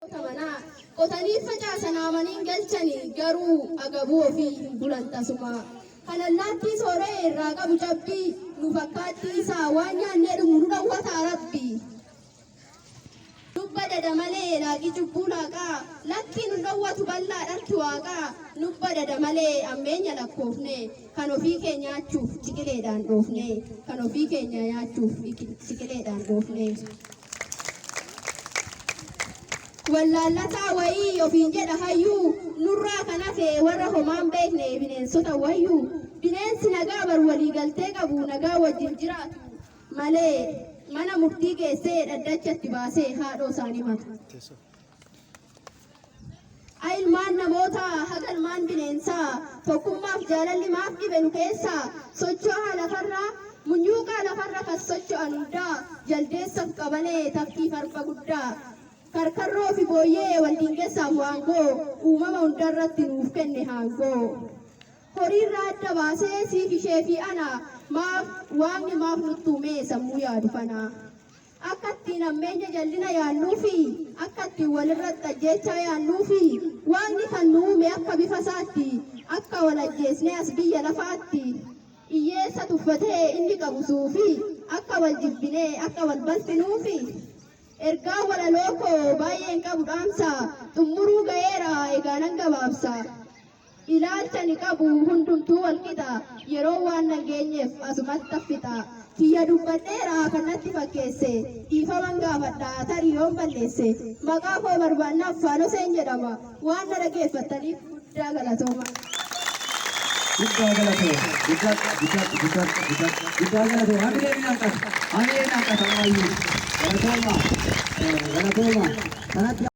Tabanaa qotanii facaasan haamaniin galchanii garuu agabuu ofii hin bulan tasumaa. Kan allaattii soora'e irraa qabu cabbii nu fakkaattii isaa waan nyaannee dhumu nu dhowwataa rabbi. Dubba dada malee laaqii cubbuu laaqaa lakkii nu dhowwatu bal'aa dharki waaqaa nubba dada malee ammeenya lakkoofne. Kan ofii kee nyaachuuf ciqileedhaan dhoofnee kan ofii keenya nyaachuuf ciqileedhaan dhoofnee. Wallaallataa wayii ofiin jedha hayyuu nurraa kan hafe warra homaan beekne bineensota wayyuu bineensi nagaa bar walii galtee qabu nagaa wajjin jiraatu malee mana murtii geessee dhaddachatti baasee haadhoo isaanii mata. A. Ilmaan namootaa haga ilmaan bineensaa tokkummaaf jaalalli maaf dhibe nu keessaa sochoohaa lafarraa munyuuqaa lafarra kas socho'an hundaa jaldeessaf qabalee tafkiif arba guddaa karkarroo fi booyyee wal diingessaaf waangoo uumama hundarratti nuuf kenne haangoo. horiirraa adda baasee siif ishee fi ana maaf waaqni maaf nuttuumee sammuu yaadu kana Akka ittiin hammeenya jallina yaannuu fi akka ittiin walirratti ajjeechaa yaannuu fi waaqni kan nu uume akka bifa isaatti akka wal ajjeesnee as biyya lafaatti hiyyeessa tuffatee inni qabu suufi akka wal jibbinee akka wal balfinuufi ergaa walaloo koo baay'een qabu dhaamsa xumuruu ga'eera egaa nan gabaabsa. Ilaalcha ani qabu hundumtuu wal qixa, yeroon waan nan geenyeef asumatti an fixa. Kiyya dubbadheera kan natti fakkeesse, dhiifaman gaafadha tarii yoon balleesse. Maqaa koo barbaannaan Faanoseen jedhama. Waan na dhageeffattaniif guddaa galatoomaa. Guddaa galatoo. Guddadha, guddadha, guddadha, guddadha. Guddaa galatoo. Hamilee ni hanqata. Hamilee ni hanqata ammayyuu. Galatoomaa. Galatoomaa. Kanatti